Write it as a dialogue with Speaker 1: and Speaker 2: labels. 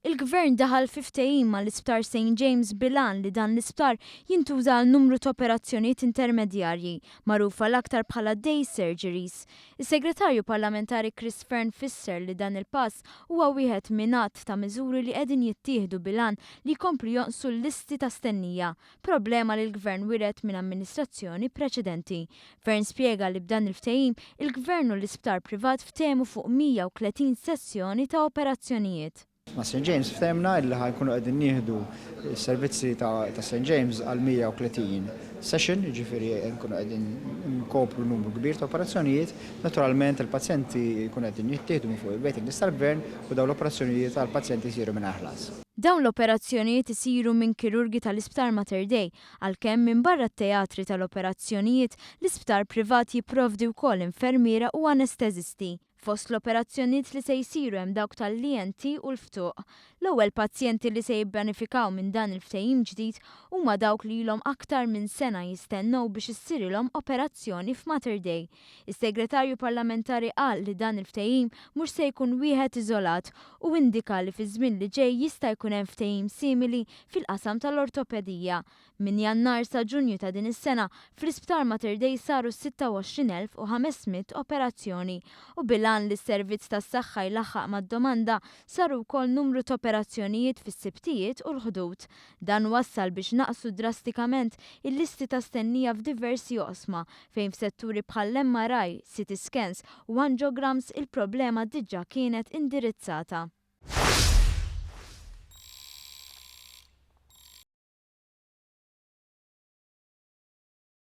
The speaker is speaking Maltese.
Speaker 1: Il-Gvern daħal fi ftehim mal-Isptar Saint James bil-għan li dan l-isptar jintuża għal numru ta' operazzjonijiet intermedjarji, magħrufa l-aktar bħala day surgeries. Is-Segretarju Parlamentari Chris Fearne fisser li dan il-pass huwa wieħed minn għadd ta' miżuri li qegħdin jittieħdu bil-għan li jkomplu jonqsu l-listi ta' stennija problema li l-Gvern wiret minn amministrazzjoni preċedenti. Fearne spjega li b'dan il-ftehim, il-Gvern u l-isptar privat ftehmu fuq 130 sessjoni ta' operazzjonijiet. Ma' St James
Speaker 2: ftehimna li ħa nkunu qegħdin nieħdu s-servizzi ta' St James għal 130 session, jiġifieri nkunu qegħdin inkopru numru kbir ta' operazzjonijiet. Naturalment il-pazjenti jkunu qegħdin jittieħdu minn fuq il-waiting list tal-Gvern u dawn l-operazzjonijiet għall-pazjenti jsiru mingħajr ħlas. Dawn l-operazzjonijiet
Speaker 1: isiru minn kirurgi tal-Isptar Mater Dei, għalkemm minbarra t-teatri tal-operazzjonijiet, l-isptar privat jipprovdi wkoll infermiera u anesteżisti. Fost l-operazzjonijiet li se jsiru hemm dawk tal-ENT u l-ftuq. L-ewwel pazjenti li se jibbenefikaw minn dan il-ftehim ġdid huma dawk li ilhom aktar minn sena jistennew biex issirilhom operazzjoni f'Mater Dei. Is-Segretarju Parlamentari qal li dan il-ftehim mhux se jkun wieħed iżolat u indika li fiż-żmien li ġej jista' jkun hemm ftehim simili fil-qasam tal-ortopedija. Minn Jannar sa Ġunju ta' din is-sena fl-Isptar Mater Dei saru 26,500 operazzjoni u bil-għan li s-servizz tas-saħħa jlaħħaq mad-domanda saru wkoll numru t'operazzjonijiet fis-Sibtijiet u l-Ħdud. Dan wassal biex naqsu drastikament il-listi ta' stennija f'diversi oqsma fejn f'setturi bħall-MRI, CT scans u angiograms il-problema diġà kienet indirizzata.